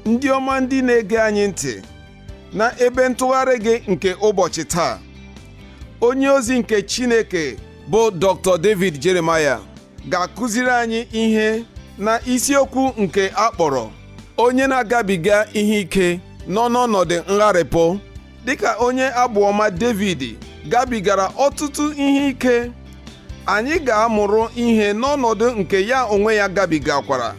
ndị ọma ndị na-ege anyị ntị na ebe ntụgharị gị nke ụbọchị taa onye ozi nke Chineke bụ Dr. David Jeremiah ga-akụziri anyị ihe na isiokwu nke a kpọrọ onye na-agabiga ihe ike nọ n'ọnọdụ ngharịpụ dịka onye abụ ọma David gabigara ọtụtụ ihe ike anyị ga-amụrụ ihe n'ọnọdụ nke ya onwe ya gabigakwara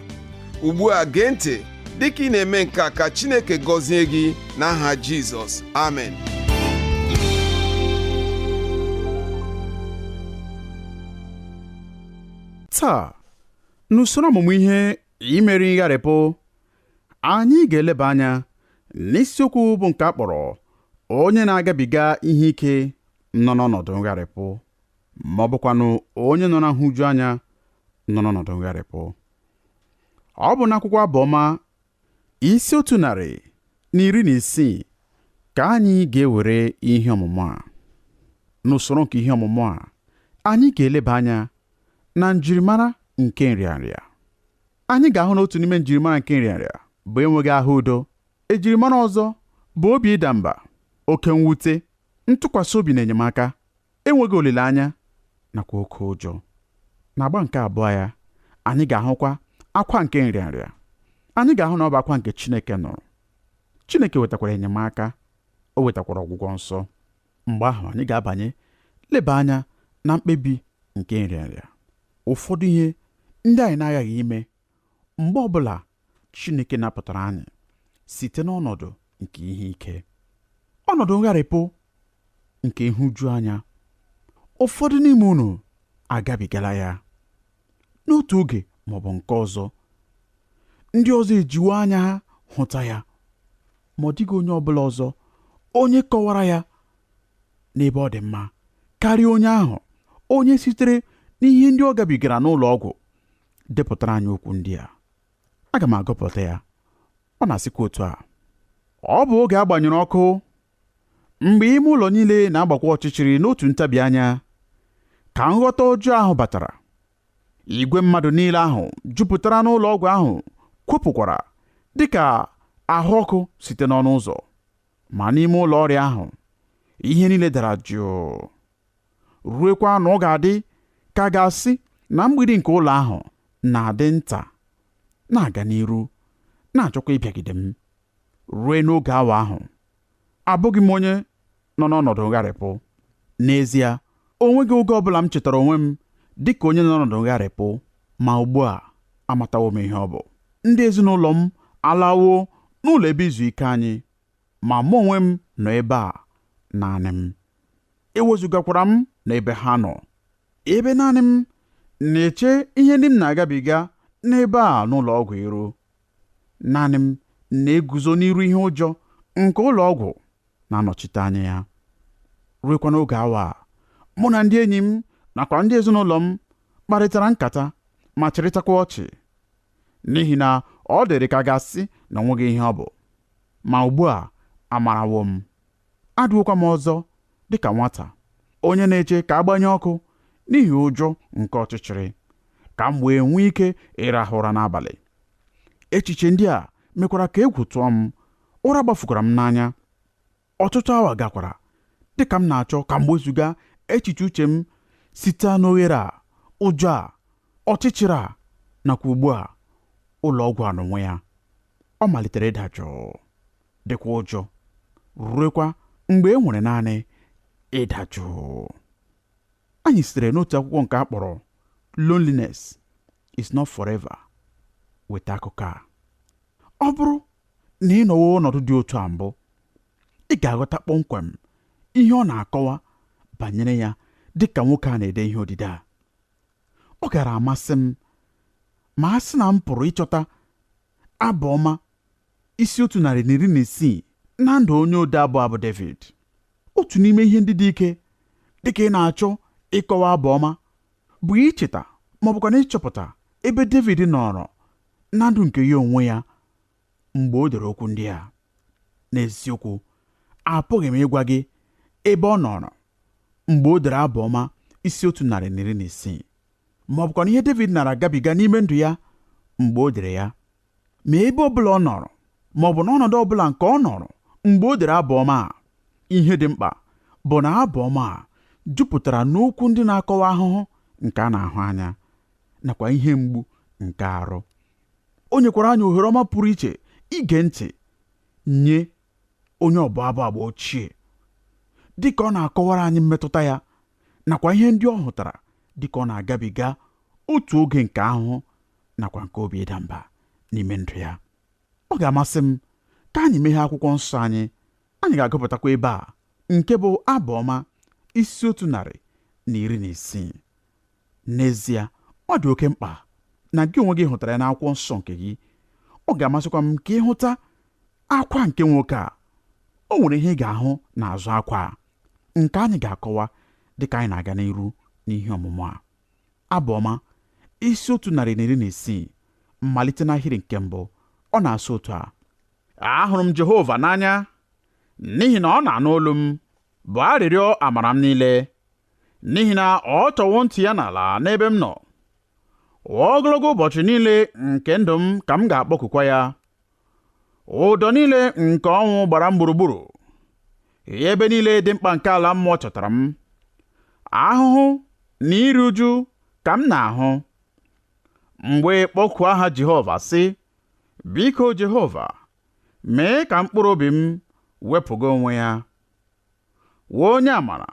ugbu a gee ntị dịka ị na-eme nke a ka Chineke gọzie gị n'aha Jizọs amen taa n'usoro ọmụmụ ihe imeri ngharịpụ Anyị ga-eleba anya n'isiokwu bụ nke a kpọrọ onye na-agabiga ihe ike nọ n'ọnọdụ ngharịpụ ma ọ bụkwanụ onye nọ na nhụju anya nọ n'ọnọdụ ngharịpụ. Ọ bụ n'akwụkwọ abụọma isi otu narị na iri na isii ka anyị ga-ewere ihe ọmụmụ a. N'usoro nke ihe ọmụmụ a, anyị ga-eleba anya na njirimara nke nrịanrịa. anyị ga-ahụ na otu n'ime njirimara nke nrịanrịa bụ enweghị ahụ udo ejirimara ọzọ bụ obi ịda mba oke mwute ntụkwasị obi na enyemaka enweghị olileanya nakwa oke ụjọ n'agba nke abụọ ya anyị ga-ahụkwa akwa nke nrịanrịa anyị ga-ahụ na ọ bụ akwa nke Chineke nụrụ Chineke wetakwara enyemaka o wetakwara ọgwụgwọ nsọ Mgbe ahụ anyị ga-abanye leba anya na mkpebi nke nrịanrịa. Ụfọdụ ihe ndị anyị na-aghaghị ime mgbe ọ bụla Chineke napụtara anyị site n'ọnọdụ nke ihe ike, ọnọdụ ngharịpụ nke nhụjuanya. Ụfọdụ n'ime unu agabigala ya. n'otu oge ma ọ bụ nke ọzọ ndị ọzọ ejiwo anya ha hụta ya ma ọ dịghị onye ọbụla ọzọ onye kọwara ya n'ebe ọ dị mma karịa onye ahụ onye sitere n'ihe ndị ọ gabigara n'ụlọ ọgwụ depụtara anyị okwu ndị a aga m agụpụta ya ọ na-asịkwa otu a ọ bụ oge a gbanyụrụ ọkụ Mgbe ime ụlọ niile na-agbakwa ọchịchịrị n'otu ntabi anya, ka nghọta ọjọọ ahụ batara. Igwe mmadụ niile ahụ jupụtara n'ụlọ ọgwụ ahụ kwopụkwara dị ka ahụ ọkụ site n'ọnụ ụzọ. Ma n'ime ụlọ ọrịa ahụ, ihe niile dara jụụ. Ruekwa na ọ ga-adị ka a ga-asị na mgbidi nke ụlọ ahụ na-adị nta, na-aga n'iru, na-achọkwa ịbịagide m. Rue n'oge awa ahụ, abụghị m onye nọ n'ọnọdụ ngharịpụ. N'ezie, o nweghị oge ọ bụla m chetara onwe m dị ka onye nọ n'ọnọdụ ngharịpụ, ma ugbu a, amatawo m ihe ọ bụ. Ndị ezinụlọ m alawo n'ụlọ ebe izu ike anyị, ma mụ onwe m nọ ebe a naanị m. E wezugakwara m n'ebe ha nọ. Ebe naanị m na-eche ihe ndị m na-agabiga n'ebe a n'ụlọ ọgwụ iru. Naanị m na-eguzo n'iru ihe ụjọ nke ụlọ ọgwụ na-anọchite anya ya. Ruekwa n'oge awa a, mụ na ndị enyi m nakwa ndị ezinụlọ m kparịtara nkata ma chịrịtakwa ọchị, n'ihi na ọ dịrị ka a ga-asị na o nweghị ihe ọ bụ. Ma ugbu a, amarawo m. Adịwokwa m ọzọ dị ka nwata, onye na-eche ka a gbanye ọkụ n'ihi ụjọ nke ọchịchịrị, ka m wee nwee ike ịrahụ ụra n'abalị. Echiche ndị a mekwara ka egwu tụọ m, ụra gbafukwara m n'anya. Ọtụtụ awa gakwara dị ka m na-achọ ka m wezuga echiche uche m site n'oghere a, ụjọ a, ọchịchịrị a, nakwa ugbu a, ụlọ ọgwụ a n'onwe ya. Ọ malitere ịda jụụ. dịkwa ụjọ ruekwa mgbe e nwere naanị ịda jụụ anyị sitere n'otu akwụkwọ nke a kpọrọ loneliness is not forever weta akụkọ a ọ bụrụ na ị nọwo ọnọdụ dị otu a mbụ ị ga-aghọta kpọmkwem ihe ọ na-akọwa banyere ya dị ka nwoke a na-ede ihe odide a ọ gara amasị m ma a sị na m pụrụ ịchọta abụ ọma isi otu narị na iri na isii na ndụ onye ode abụ a bụ Devid. Otu n'ime ihe ndị dị ike dị ka ị na-achọ ịkọwa abụ ọma bụ icheta ma ọ bụkwanụ ịchọpụta ebe Devid nọrọ na ndụ nke ya onwe ya mgbe o dere okwu ndị a. N'eziokwu, apụghị m ịgwa gị ebe ọ nọrọ mgbe o dere abụ ọma isi otu narị na iri na isii ma ọ bụkwanụ ihe Devid nara agabiga n'ime ndụ ya mgbe o dere ya. ma ebe ọbụla ọ nọrọ ma ọ bụ n'ọnọdụ ọbụla nke ọ nọrọ mgbe o dere abụ ọma a. Ihe dị mkpa bụ na abụ ọma a jupụtara n'okwu ndị na-akọwa ahụhụ nke a na-ahụ anya nakwa ihe mgbu nke arụ. O nyekwara anyị ohere ọma pụrụ iche ige ntị nye onye ọbụ abụ agba ochie dị ka ọ na-akọwara anyị mmetụta ya nakwa ihe ndị ọ hụtara dị ka ọ na-agabiga otu oge nke ahụhụ nakwa nke obi ịda mba n'ime ndụ ya ọ ga-amasị m ka anyị meghee akwụkwọ nsọ anyị anyị ga-agụpụtakwa ebe a nke bụ abụ ọma isi otu narị na iri na isii n'ezie ọ dị oke mkpa na gị onwe gị hụtara ya n'akwụkwọ nsọ nke gị ọ ga-amasịkwa m ka ị hụta akwa nke nwoke a o nwere ihe ị ga-ahụ n'azụ akwa a nke anyị ga-akọwa dịka anyị na-aga n'iru n'ihe ọmụmụ a Abụ Ọma, isi otu narị na iri na isii, malite n'ahịrị nke mbụ, ọ na-asụ otu a. Ahụrụ m Jehova n'anya, n'ihi na ọ na-anụ olu m, bụ arịrịọ amara m niile, n'ihi na ọ tọwo ntị ya n'ala n'ebe m nọ. Ogologo ụbọchị niile nke ndụ m ka m ga-akpọkukwa ya, ụdọ niile nke ọnwụ gbara m gburugburu ebe niile dị mkpa nke ala mmụọ chọtara m ahụhụ na iru uju ka m na-ahụ m wee kpọkuo aha Jehova sị biko Jehova mee ka mkpụrụ obi m wepụga onwe ya wee onye amara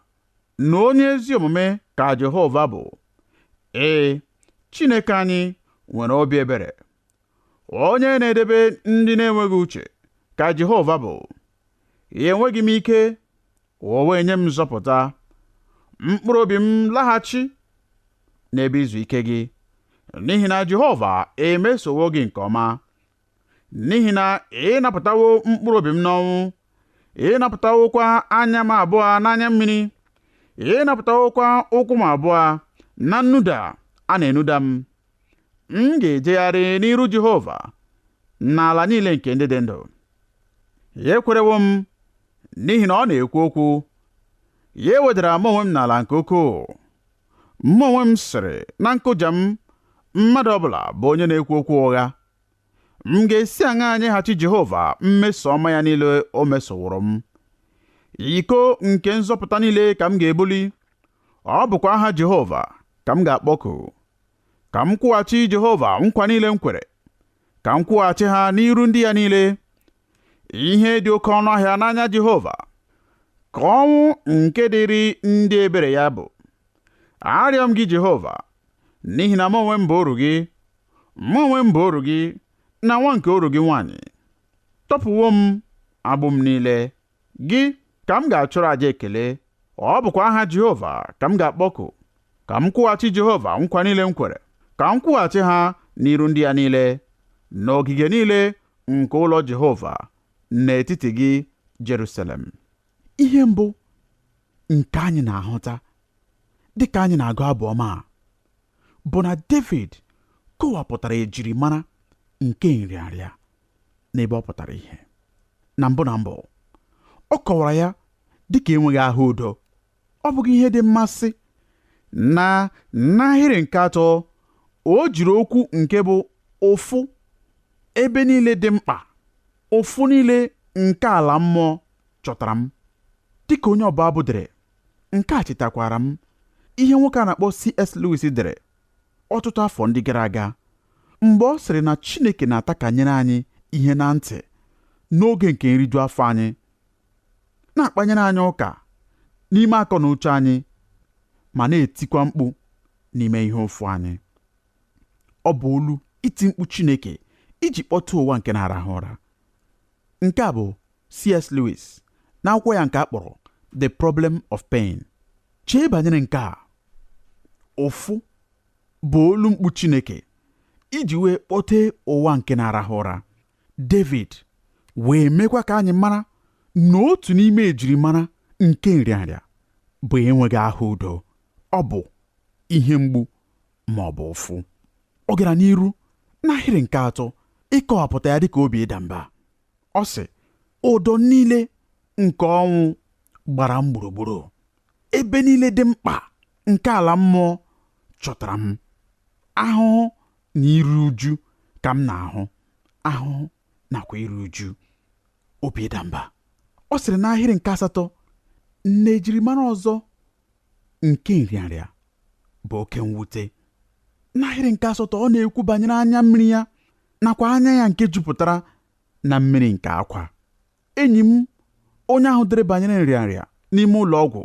na onye ezi omume ka Jehova bụ ee Chineke anyị nwere obi ebere Onye na-edebe ndị na-enweghị uche ka Jehova bụ. Enweghị m ike, o wee nye m nzọpụta. Mkpụrụ obi m laghachi n'ebe izu ike gị, n'ihi na Jehova emesowo gị nke ọma. N'ihi na ị napụtawo mkpụrụ obi m n'ọnwụ, ị napụtawokwa anya m abụọ n'anya mmiri, ị napụtawokwa ụkwụ m abụọ na nnuda a na-enuda m. M ga-ejegharị n'iru Jehova n'ala niile nke ndị dị ndụ. Ya ekwerewo m n'ihi na ọ na-ekwu okwu. Ya ewedara mụ onwe m n'ala nke ukwuu. Mụ onwe m sịrị na nkụja m, mmadụ ọbụla bụ onye na-ekwu okwu ụgha. M ga-esi aṅa nyeghachi Jehova mmeso ọma ya niile o mesoworo m? Iko nke nzọpụta niile ka m ga-ebuli, ọ bụkwa aha Jehova ka m ga-akpọku. ka m kwụghachi Jehova nkwa niile m kwere ka m kwụghachi ha n'iru ndị ya niile ihe dị oke ọnụ ahịa n'anya Jehova ka ọnwụ nke dịrị ndị ebere ya bụ arịọ m gị Jehova n'ihi na mụ onwe m bụ oru gị mụ onwe m bụ oru gị na nwa nke oru gị nwaanyị ị tọpụwo m agbụ m niile Gị ka m ga-achụrụ aja ekele, ọ bụkwa aha Jehova ka m ga-akpọku. Ka m kwụghachi Jehova nkwa niile m kwere, ka m kwụghachi ha n'iru ndị ya niile, n'ogige niile nke ụlọ Jehova, n'etiti gị, Jerusalem. Ihe mbụ nke anyị na-ahụta dị ka anyị na-agụ abụ ọma a bụ na Devid kọwapụtara ejirimara nke nrịanrịa. n'ebe ọ pụtara ihe na mbụ na mbụ ọ kọwara ya dị ka enweghị ahụ udo ọ bụghị ihe dị mmasị na n'ahịrị nke atọ o jiri okwu nke bụ ụfụ ebe niile dị mkpa ụfụ niile nke ala mmụọ chọtara m dịka onye ọbụ abụ dere nke a chetakwara m ihe nwoke a na-akpọ C.S. Lewis dere ọtụtụ afọ ndị gara aga mgbe ọ sịrị na Chineke na-atakanyere anyị ihe na ntị n'oge nke nriju afọ anyị na-akpanyere anyị ụka n'ime akọ na uche anyị ma na-etikwa mkpu n'ime ihe ụfụ anyị ọ bụ olu iti mkpu Chineke iji kpọtee ụwa nke na-arahụ ụra nke a bụ C.S. Lewis n'akwụkwọ ya nke a kpọrọ The Problem of Pain chee banyere nke a ụfụ bụ olu mkpu Chineke iji wee kpọtee ụwa nke na-arahụ ụra David wee mekwa ka anyị mara na otu n'ime ejirimara nke nrịanrịa bụ enweghị ahụ udo ọ bụ ihe mgbu ma ọ bụ ụfụ ọ gara n'iru n'ahịrị nke atọ ịkọwapụta ya dịka obi ịda mba ọ sị ụdọ niile nke ọnwụ gbara m gburugburu ebe niile dị mkpa nke ala mmụọ chọtara m ahụhụ na iru uju ka m na-ahụ ahụhụ nakwa iru uju obi ịda mba ọ sịrị n'ahịrị nke asatọ na ejirimara ọzọ nke nrịanrịa bụ oke mwute n'ahịrị nke asatọ ọ na-ekwu banyere anya mmiri ya nakwa anya ya nke jupụtara na mmiri nke akwa enyi m onye ahụ dere banyere nrịanrịa n'ime ụlọ ọgwụ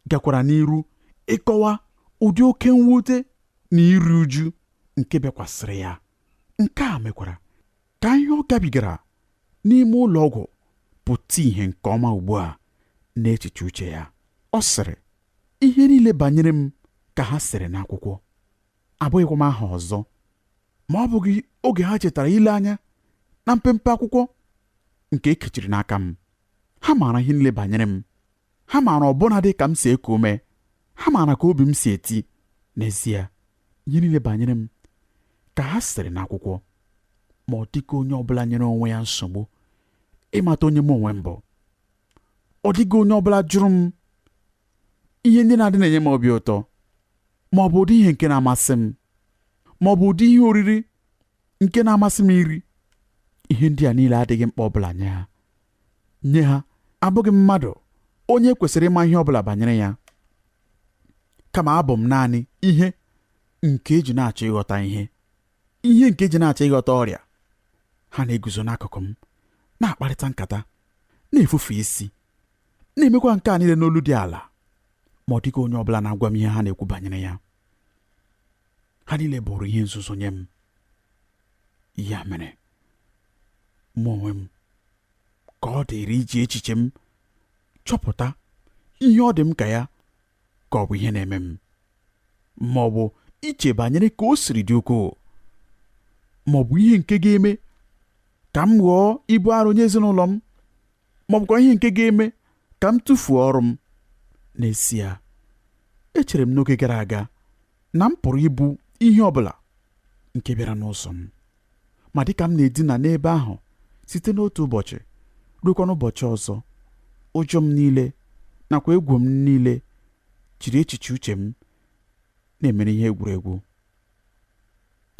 gakwara n'iru ịkọwa ụdị oke mwute na iru uju nke bịakwasịrị ya nke a mekwara ka ihe ọ gabigara n'ime ụlọ ọgwụ pụta ihe nke ọma ugbu a n'echiche uche ya ọ sịrị ihe niile banyere m ka ha sịrị n'akwụkwọ abụghịkwa m aha ọzọ ma ọ bụghị oge ha chetara ile anya na mpempe akwụkwọ nke ekechiri n'aka m ha maara ihe niile banyere m ha maara ọbụna dị ka m si eku ume ha maara ka obi m si eti n'ezie ihe niile banyere m ka ha sịrị n'akwụkwọ ma ọ dịghị onye ọbụla nyere onwe ya nsogbu ịmata onye m onwe m bụ ọ dịghị onye ọbụla jụrụ m ihe ndị na-adị na-enye m obi ụtọ ma ọ bụ ụdị ihe nke na-amasị m ma ọ bụ ụdị ihe oriri nke na-amasị m iri ihe ndị a niile adịghị mkpa ọbụla nye ha nye ha abụghị m mmadụ onye kwesịrị ịma ihe ọbụla banyere ya kama abụ m naanị ihe nke eji na-achọ ịghọta ihe ihe nke eji na-achọ ịghọta ọrịa ha na-eguzo n'akụkụ m na-akparịta nkata na-efufe isi na-emekwa nke a niile n'olu dị ala ma ọ dịghị onye ọ bụla na-agwa m ihe ha na-ekwu banyere ya ha niile bụrụ ihe nzuzo nye m ya mere mụ onwe m ka ọ dịịrị iji echiche m chọpụta ihe ọ dị m ka ya ka ọ bụ ihe na-eme m ma ọ bụ iche banyere ka o siri dị ukwuu ma ọ bụ ihe nke ga-eme ka m ghọọ ibu arụ nye ezinụlọ m ma ọ bụkwa ihe nke ga-eme ka m tụfuo ọrụ m n'ezie echere m n'oge gara aga na m pụrụ ibu ihe ọ bụla nke bịara n'ụzọ m ma dịka m na-edina n'ebe ahụ site n'otu ụbọchị ruokwa n'ụbọchị ọzọ ụjọ m niile nakwa egwu m niile jiri echiche uche m na-emere ihe egwuregwu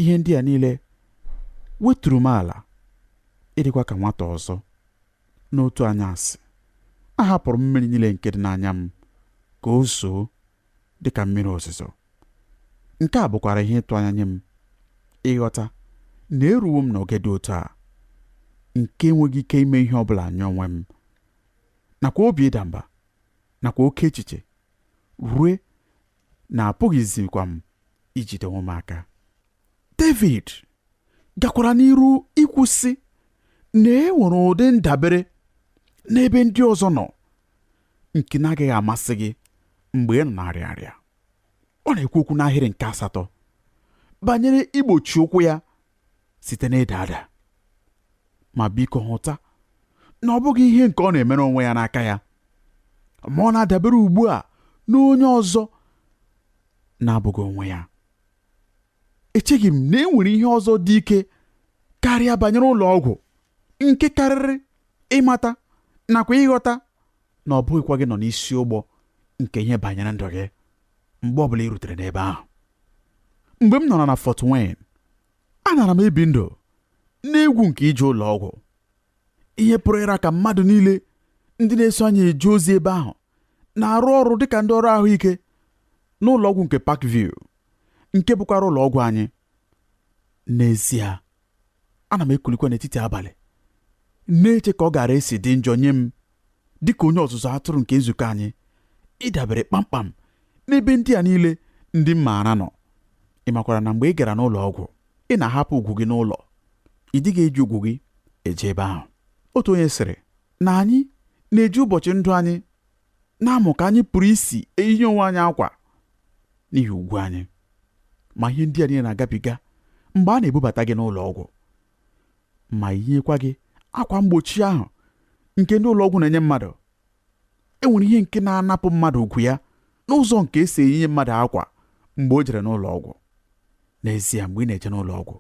Ihe ndị a niile weturu m ala ịdịkwa ka nwata ọzọ. N'otu anyasị, ahapụrụ m mmiri niile nke dị n'anya m ka o zoo dị ka mmiri ozuzo. Nke a bụkwara ihe ịtụ anya nye m ịghọta na eruwo m n'oge dị otu a nke enweghị ike ime ihe ọ bụla nye onwe m nakwa obi ịda mba nakwa oke echiche rue na apụghịzikwa m ijide onwe m aka David gakwara n'iru ikwu sị na e nwere ụdị ndabere n'ebe ndị ọzọ nọ nke na-agaghị amasị gị mgbe ị nọ na-arịa arịa ọ na-ekwu okwu n'ahịrị nke asatọ banyere igbochi ụkwụ ya site n'ịda ada ma biko hụta na ọ bụghị ihe nke ọ na-emere onwe ya n'aka ya ma ọ na-adabere ugbu a n'onye ọzọ na-abụghị onwe ya echeghị m na e nwere ihe ọzọ dị ike karịa banyere ụlọ ọgwụ nke karịrị ịmata nakwa ịghọta na ọ bụghịkwa gị nọ n'isi ụgbọ nke ihe banyere ndụ gị mgbe ọbụla ị rutere n'ebe ahụ mgbe m nọrọ na Fort Wayne anara m ebi ndụ n'egwu nke ije ụlọ ọgwụ ihe pụrụ ịra ka mmadụ niile ndị na-eso anyị eje ozi ebe ahụ na-arụ ọrụ dịka ndị ọrụ ahụike n'ụlọ ọgwụ nke Parkview nke bụkwara ụlọ ọgwụ anyị n'ezie ana m ekulikwa n'etiti abalị na-eche ka ọ gara esi dị njọ nye m dị ka onye ọzụzụ atụrụ nke nzukọ anyị ịdabere kpamkpam n'ebe ndị a niile ndị m maara nọ ị makwara na mgbe ị gara n'ụlọ ọgwụ ị na-ahapụ ugwu gị n'ụlọ ị dịghị eji ugwu gị eje ebe ahụ otu onye sịrị na anyị na-eji ụbọchị ndụ anyị na-amụ ka anyị pụrụ isi eyinye onwe anyị akwa n'ihi ugwu anyị ma ihe ndị a niile na-agabiga mgbe a na-ebubata gị n'ụlọ ọgwụ ma yinyekwa gị akwa mgbochi ahụ nke ndị ụlọ ọgwụ na-enye mmadụ e nwere ihe nke na-anapụ mmadụ ugwu ya n'ụzọ nke esi eyinye mmadụ akwa mgbe o jere n'ụlọ ọgwụ n'ezie mgbe ị na-eje n'ụlọ ọgwụ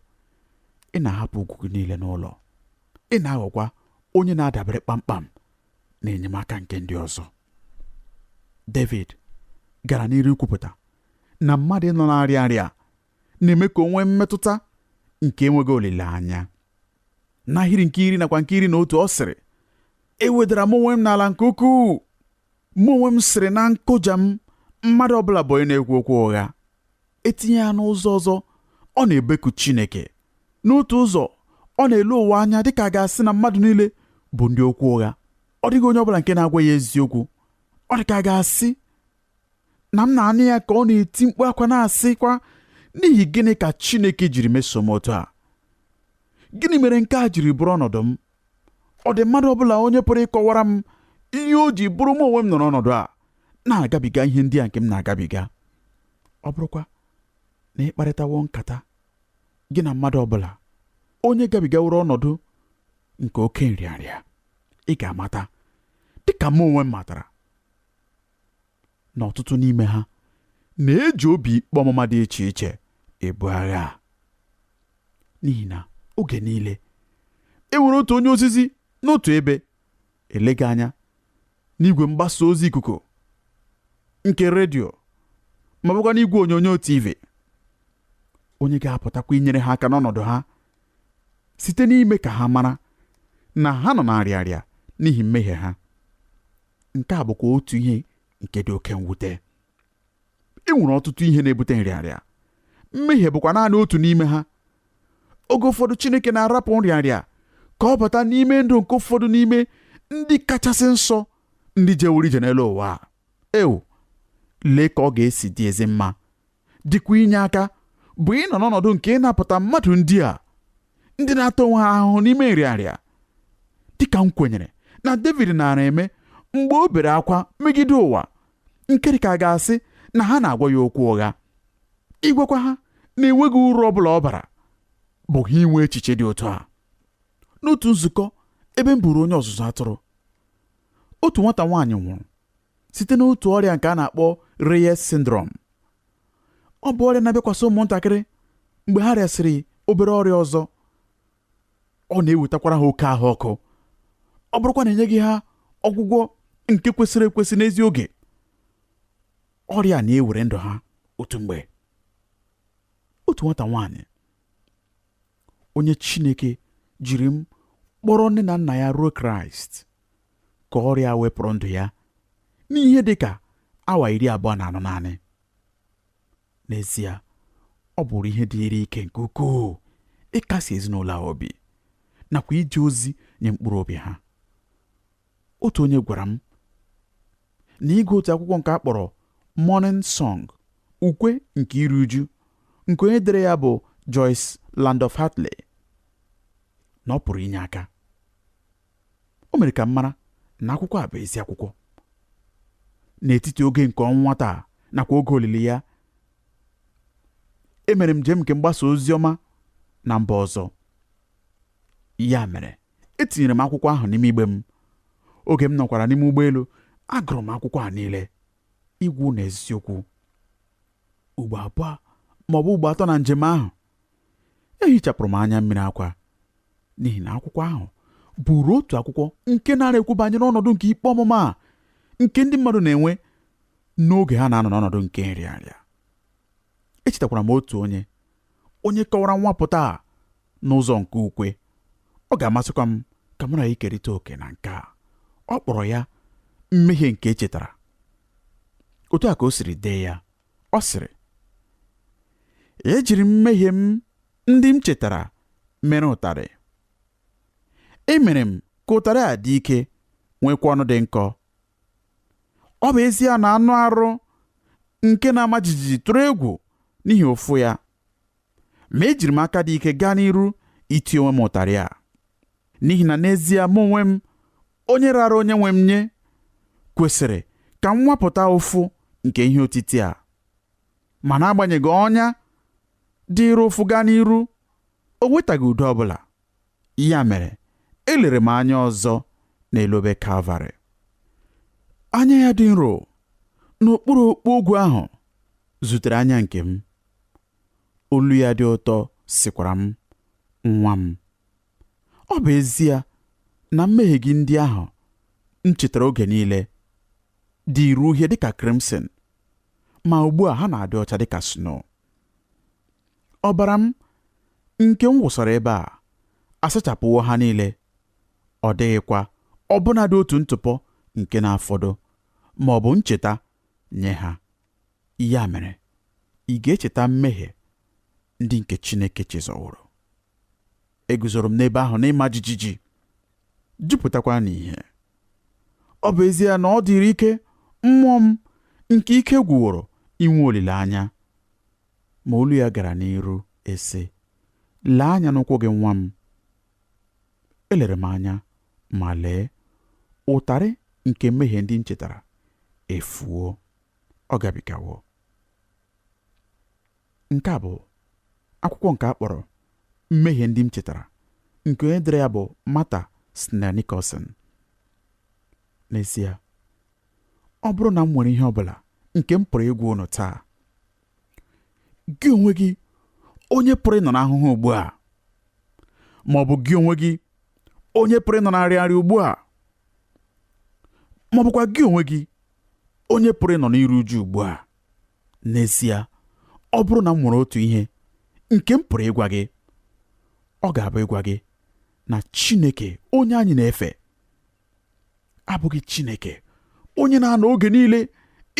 ị na-ahapụ ugwu gị niile n'ụlọ ị na-aghọkwa onye na-adabere kpamkpam na enyemaka nke ndị ọzọ David gara n'iru ikwupụta na mmadụ ịnọ na-arịa arịa na-eme ka o nwee mmetụta nke enweghị olileanya n'ahịrị nke iri nakwa nke iri na otu ọ sịrị ewedara mụ onwe m n'ala nke ukwuu mụ onwe m sịrị na nkụja m mmadụ ọbụla bụ onye na-ekwu okwu ụgha etinye ya n'ụzọ ọzọ ọ na-ebeku Chineke n'otu ụzọ ọ na-ele ụwa anya dịka a ga-asị na mmadụ niile bụ ndị okwu ụgha ọ dịghị onye ọbụla nke na-agwa ya eziokwu ọ dị ka a ga-asị na m na-anụ ya ka ọ na-eti mkpu akwa na-asịkwa n'ihi gịnị ka Chineke jiri meso m otu a gịnị mere nke a jiri bụrụ ọnọdụ m ọ dị mmadụ ọbụla onye pụrụ ịkọwara m ihe o ji bụrụ mụ onwe m nọrọ ọnọdụ a na-agabiga ihe ndị a nke m na-agabiga ọ bụrụkwa na ị kparịtawo nkata gị na mmadụ ọbụla onye gabigaworo ọnọdụ nke oke nrịanrịa ị ga-amata dịka mụ onwe m matara na ọtụtụ n'ime ha na-eji obi ikpe ọmụma dị iche iche ebu agha a n'ihi na oge niile e nwere otu onye ozizi n'otu ebe eleghị anya n'igwe mgbasa ozi ikuku nke redio ma ọ bụkwa n'igwe onyonyo TV onye ga-apụtakwa inyere ha aka n'ọnọdụ ha site n'ime ka ha mara na ha nọ na-arịa arịa n'ihi mmehie ha nke a bụkwa otu ihe nke dị oke mwute e nwere ọtụtụ ihe na-ebute nrịanrịa mmehie bụkwa naanị otu n'ime ha oge ụfọdụ Chineke na-arapụ nrịanrịa ka ọ bata n'ime ndụ nke ụfọdụ n'ime ndị kachasị nsọ ndị jeworo ije n'elu ụwa ewu lee ka ọ ga-esi dị ezi mma dịkwa inye aka bụ ịnọ n'ọnọdụ nke ịnapụta mmadụ ndị a ndị na-ata onwe ha ahụhụ n'ime nrịarịa dịka m kwenyere na David naara eme mgbe o bere akwa megide ụwa nke dịka a ga-asị na ha na-agwa ya okwu ụgha ịgwakwa ha na enweghị uru ọ bụla ọ bara bụ ha inwe echiche dị otu a n'otu nzukọ ebe m bụụrụ onye ọzụzụ atụrụ otu nwata nwaanyị nwụrụ site n'otu ọrịa nke a na-akpọ Reyes syndrome ọ bụ ọrịa na-abịakwasị ụmụntakịrị mgbe ha rịasịrị obere ọrịa ọzọ ọ na-ewetakwara ha oke ahụ ọkụ ọ bụrụkwa na enyeghị ha ọgwụgwọ nke kwesịrị ekwesị n'ezi oge ọrịa na-ewere ndụ ha otu mgbe otu nwata nwaanyị onye Chineke jiri m kpọrọ nne na nna ya ruo Kraịst ka ọrịa wepụrụ ndụ ya n'ihe dị ka awa iri abụọ na anọ naanị n'ezie ọ bụụrụ ihe dịịrị ike nke ukwuu ịkasi ezinụlọ ahụ obi nakwa ije ozi nye mkpụrụ obi ha otu onye gwara m na ịgụ otu akwụkwọ nke a kpọrọ Mourning Song ukwe nke iru uju nke onye dere ya bụ Joyce Landorf Heatherley na ọ pụrụ inye aka o mere ka m mara na akwụkwọ a bụ ezi akwụkwọ n'etiti oge nke ọnwụ nwata a nakwa oge olili ya emere m njem nke mgbasa ozi ọma na mba ọzọ ya mere etinyere m akwụkwọ ahụ n'ime igbe m oge m nọkwara n'ime ụgbọelu agụrụ m akwụkwọ a niile ịgwa unu eziokwu ugbo abụọ ma ọ bụ ugbo atọ na njem ahụ ehichapụrụ m anya mmiri akwa n'ihi na akwụkwọ ahụ bụụrụ otu akwụkwọ nke naara ekwu banyere ọnọdụ nke ikpe ọmụma a nke ndị mmadụ na-enwe n'oge ha na-anọ n'ọnọdụ nke nrịanrịa echetakwara m otu onye onye kọwara nwapụta a n'ụzọ nke ukwe ọ ga-amasịkwa m ka mụ na gị kerịta oke na nke a ọ kpọrọ ya mmehie nke e chetara otu a ka o siri dee ya ọ sịrị ejiri m mmehie m ndị m chetara mere ụtarị emere m ka ụtarị a dị ike nwekwa ọnụ dị nkọ ọ bụ ezie na anụ arụ nke na-ama jijiji tụrụ egwu n'ihi ụfụ ya ma ejiri m aka dị ike gaa n'iru iti onwe m ụtarị a n'ihi na n'ezie mụ onwe m onye rara onye nwe m nye kwesịrị ka m nwapụta ụfụ nke ihe otiti a ma n'agbanyeghị ọnya dịịrị ụfụ gaa n'iru o nwetaghị udo ọbụla ya mere elere m anya ọzọ n'elu obe kalvarị anya ya dị nro n'okpuru okpu ogwu ahụ zutere anya nke m Olu ya dị ụtọ sịkwara m, Nwa m, ọ bụ ezie na mmehie gị ndị ahụ m chetara oge niile dịịrị uhie dịka crimson, ma ugbu a ha na-adị ọcha dịka snow. Ọbara m nke m wụsara ebe a asachapụwo ha niile, ọ dịghịkwa ọbụnadị otu ntụpọ nke na-afọdụ ma ọ bụ ncheta nye ha. Ya mere, ị ga-echeta mmehie ndị nke Chineke chezọworo. Eguzoro m n'ebe ahụ n'ịma jijiji, jupụtakwa n'ìhè. Ọ bụ ezie na ọ dịrị ike mmụọ m nke ike gwụworo inwe olileanya, ma olu ya gara n'iru ịsị, Lee anya n'ụkwụ gị nwa m. Elere m anya ma lee, ụtarị nke mmehie ndị m chetara efuo. ọ gabigawo nke a bụ akwụkwọ nke a kpọrọ mmehie ndị m chetara nke onye dere ya bụ Martha Snell Nicholson n'ezie ọ bụrụ na m nwere ihe ọ bụla nke m pụrụ ịgwa unu taa gị onwe gị onye pụrụ ịnọ n'ahụhụ ugbu a ma ọ bụ gị onwe gị onye pụrụ ịnọ na nrịanrịa ugbu a ma ọ bụkwa gị onwe gị onye pụrụ ịnọ n'iru uju ugbu a n'ezie ọ bụrụ na m nwere otu ihe nke m pụrụ ịgwa gị ọ ga-abụ ịgwa gị na Chineke onye anyị na-efe abụghị Chineke onye na-anọ oge niile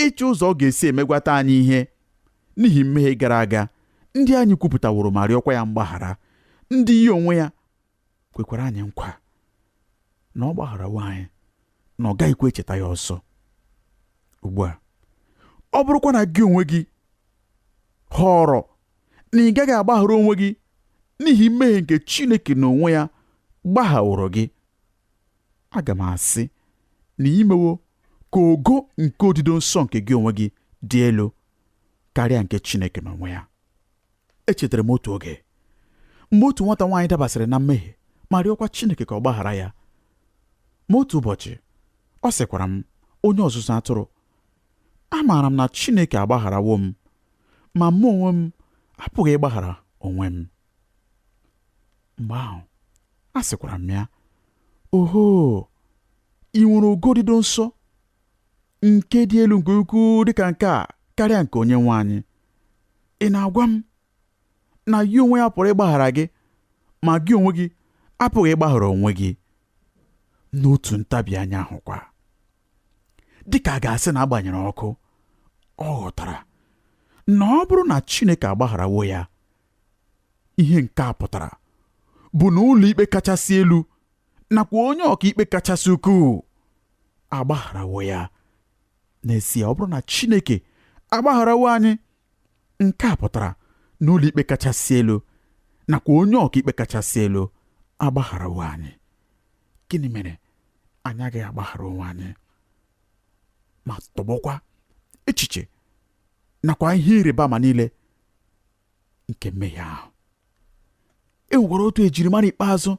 ịchọ ụzọ ọ ga-esi emegwata anyị ihe n'ihi mmehie gara aga ndị anyị kwupụtaworo ma rịọkwa ya mgbaghara ndị ya onwe ya kwekwara anyị nkwa na ọ gbagharawo anyị na ọ gaghịkwa echeta ya ọzọ ugbu a ọ bụrụkwa na gị onwe gị họrọ na ị gaghị agbaghara onwe gị n'ihi mmehie nke Chineke n'onwe ya gbaghaworo gị aga m asị na i mewo ka ogo nke odido nsọ nke gị onwe gị dị elu karịa nke Chineke n'onwe ya echetara m otu oge mgbe otu nwata nwaanyị dabasịrị na mmehie ma rịọkwa Chineke ka ọ gbaghara ya ma otu ụbọchị ọ sịkwara m onye ọzụzụ atụrụ amaara m na Chineke agbagharawo m ma mụ onwe m apụghị ịgbaghara onwe m mgbe ahụ a sịkwara m ya oho i nwere ogo odido nsọ nke dị elu nke ukwuu dịka nke a karịa nke onye nwe anyị ị na-agwa m na ya onwe ya pụrụ ịgbaghara gị ma gị onwe gị apụghị ịgbaghara onwe gị n'otu ntabi anya ahụkwa dịka a ga-asị na a gbanyere ọkụ ọ ghọtara na ọ bụrụ na Chineke agbagharawo ya ihe nke a pụtara bụ na ụlọikpe kachasị elu nakwa onye ọkaikpe kachasị ukwuu agbagharawo ya n'ezie ọ bụrụ na Chineke agbagharawo anyị nke a pụtara na ụlọikpe kachasị elu nakwa onye ọkaikpe kachasị elu agbagharawo anyị gịnị mere anyị agaghị agbaghara onwe anyị ma tọgbọkwa echiche nakwa ihe ịrịba ama niile nke mmehie ahụ e nwekwara otu ejirimara ikpeazụ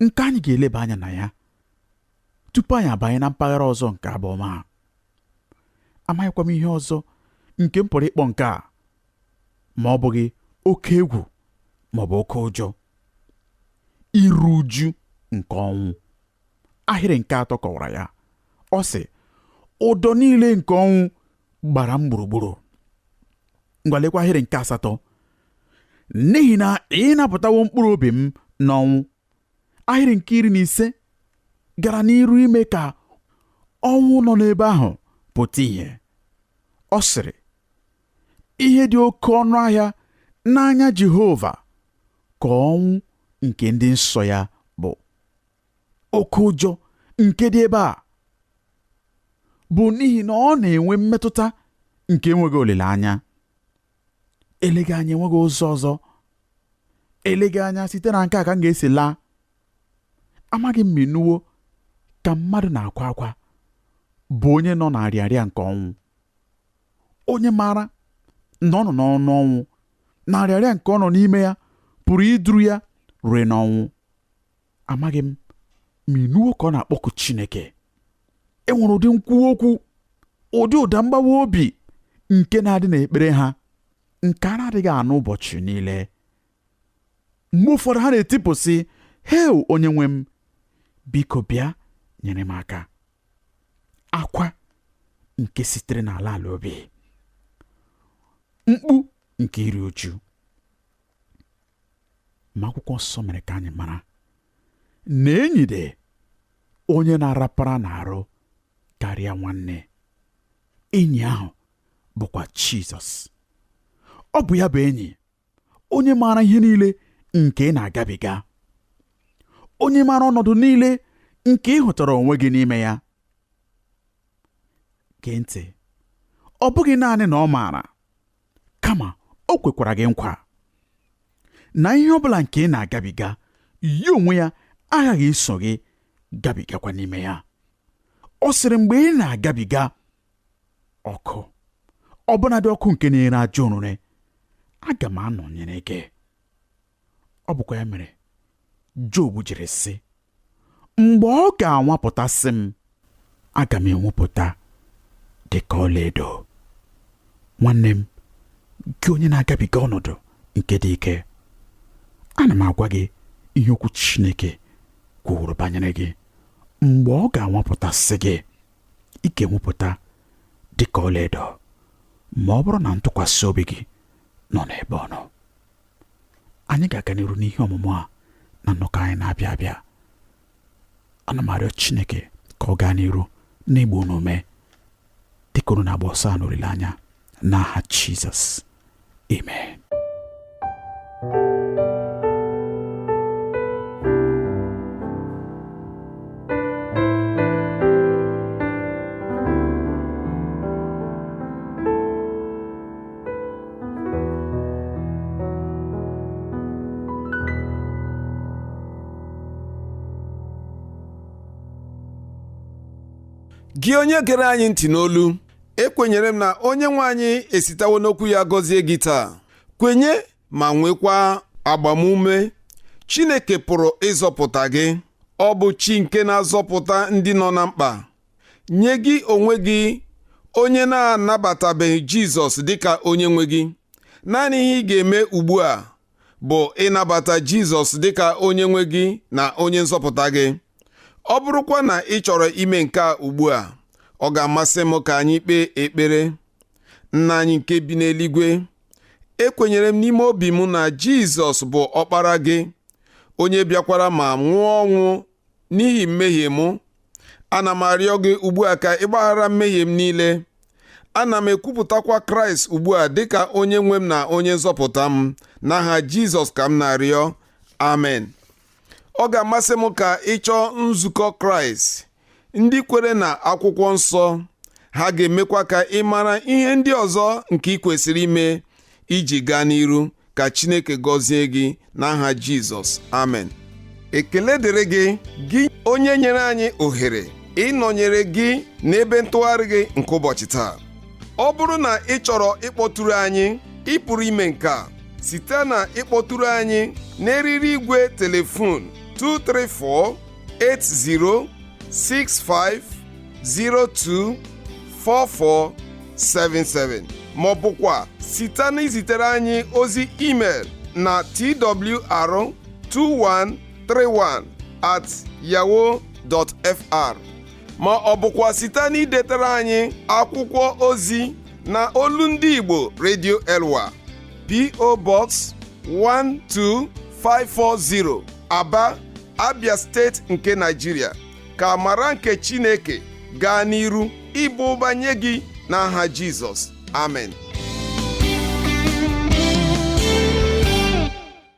nke anyị ga-eleba anya na ya tupu anyị abanye na mpaghara ọzọ nke abụọma a amaghịkwa m ihe ọzọ nke m pụrụ ịkpọ nke a ma ọ bụghị oke egwu ma ọ bụ oke ụjọ iru uju nke ọnwụ ahịrị nke atọ kọwara ya ọ sị ụdọ niile nke ọnwụ gbara m gburugburu ngwa lekwa ahịrị nke asatọ n'ihi na ị napụtawo mkpụrụ obi m n'ọnwụ ahịrị nke iri na ise gara n'iru ime ka ọnwụ nọ n'ebe ahụ pụta ìhè ọ sịrị ihe dị oke ọnụ ahịa n'anya Jehova ka ọnwụ nke ndị nsọ ya oke ụjọ nke dị ebe a bụ n'ihi na ọ na-enwe mmetụta nke enweghị olileanya eleghị anya enweghị ụzọ ọzọ eleghị anya site na nke a ka m ga-esi laa amaghị m ma ị nụwo ka mmadụ na-akwa akwa bụ onye nọ na arịarịa nke ọnwụ onye maara na ọ nọ n'ọnụ ọnwụ na arịarịa nke ọ nọ n'ime ya pụrụ iduru ya rue n'ọnwụ amaghị m ma ị nụwo ka ọ na-akpọku Chineke e nwere ụdị nkwuwa okwu ụdị ụda mgbawa obi nke na-adị n'ekpere ha nke a na-adịghị anụ ụbọchị niile mgbe ụfọdụ ha na-etipụ sị heu onye nwe m biko bịa nyere m aka akwa nke sitere n'ala ala obi mkpu nke iri uju ma akwụkwọ nsọ mere ka anyị mara na enyi dị onye na-arapara n'arụ karịa nwanne enyi ahụ bụkwa Jizọs ọ bụ ya bụ enyi onye maara ihe niile nke ị na-agabiga onye maara ọnọdụ niile nke ị hụtara onwe gị n'ime ya gee ntị ọ bụghị naanị na ọ maara kama o kwekwara gị nkwa na ihe ọ bụla nke ị na-agabiga ya onwe ya aghaghị iso gị gabigakwa n'ime ya ọ sịrị mgbe ị na-agabiga ọkụ ọbụnadị ọkụ nke na-ere ajọ orure aga m anọnyere gị ọ bụkwa ya mere Job jiri sị mgbe ọ ga-anwapụtasị m aga m enwepụta dị ka ọlaedo nwanne m gị onye na-agabiga ọnọdụ nke dị ike ana m agwa gị ihe okwu Chineke kwuru banyere gị mgbe ọ ga-anwapụtasị gị ị ga-enwepụta dị ka ọlaedo ma ọ bụrụ na ntụkwasị obi gị nọ n'ebe ọ nọ anyị ga-aga n'iru n'ihe ọmụmụ a na nnọkọ anyị na-abịa abịa ana m arịọ Chineke ka ọ gaa n'iru n'ịgba unu ume dịka unu na-agba ọsọ a n'olileanya n'aha Jizọs amen gị onye gere anyị ntị n'olu ekwenyere m na onye nwe anyị esitawo n'okwu ya gọzie gị taa kwenye ma nwekwa agbamume Chineke pụrụ ịzọpụta gị ọ bụ chi nke na-azọpụta ndị nọ na mkpa nye gị onwe gị onye na-anabatabeghị jizọs dịka onye nwe gị naanị ihe ị ga-eme ugbu a bụ ịnabata jizọs dịka onye nwe gị na onye nzọpụta gị ọ bụrụkwa na ị chọrọ ime nke a ugbu a ọ ga-amasị m ka anyị kpee ekpere nna anyị nke bi n'eluigwe ekwenyere m n'ime obi m na jizọs bụ ọkpara gị onye bịakwara ma nwụọ ọnwụ n'ihi mmehie m ana m arịọ gị ugbu a ka ị gbaghara mmehie m niile ana m ekwupụtakwa kraịst ugbu a dịka onye nwe m na onye nzọpụta m n'aha jizọs ka m na-arịọ amen ọ ga-amasị m ka ị chọọ nzukọ kraịst ndị kwere na akwụkwọ nsọ ha ga-emekwa ka ị mara ihe ndị ọzọ nke ị kwesịrị ime iji gaa n'iru ka Chineke gọzie gị n'aha Jizọs amen ekele dịrị gị gị onye nyere anyị ohere ịnọnyere gị n'ebe ntụgharị gị nke ụbọchị taa ọ bụrụ na ị chọrọ ịkpọtụrụ anyị ị pụrụ ime nke a site na ịkpọtụrụ anyị n'eriri igwe telefon 234 8065024477 ma ọ bụkwa site na izitere anyị ozi email na twr2131 at yahoo dot fr ma ọ bụkwa site na idetara anyị akwụkwọ ozi na olu ndị Igbo Radio Elwa PO Box 12540 Aba Abia steeti nke Naijiria ka amara nke Chineke gaa n'iru ịba ụba nye gị n'aha Jizọs amen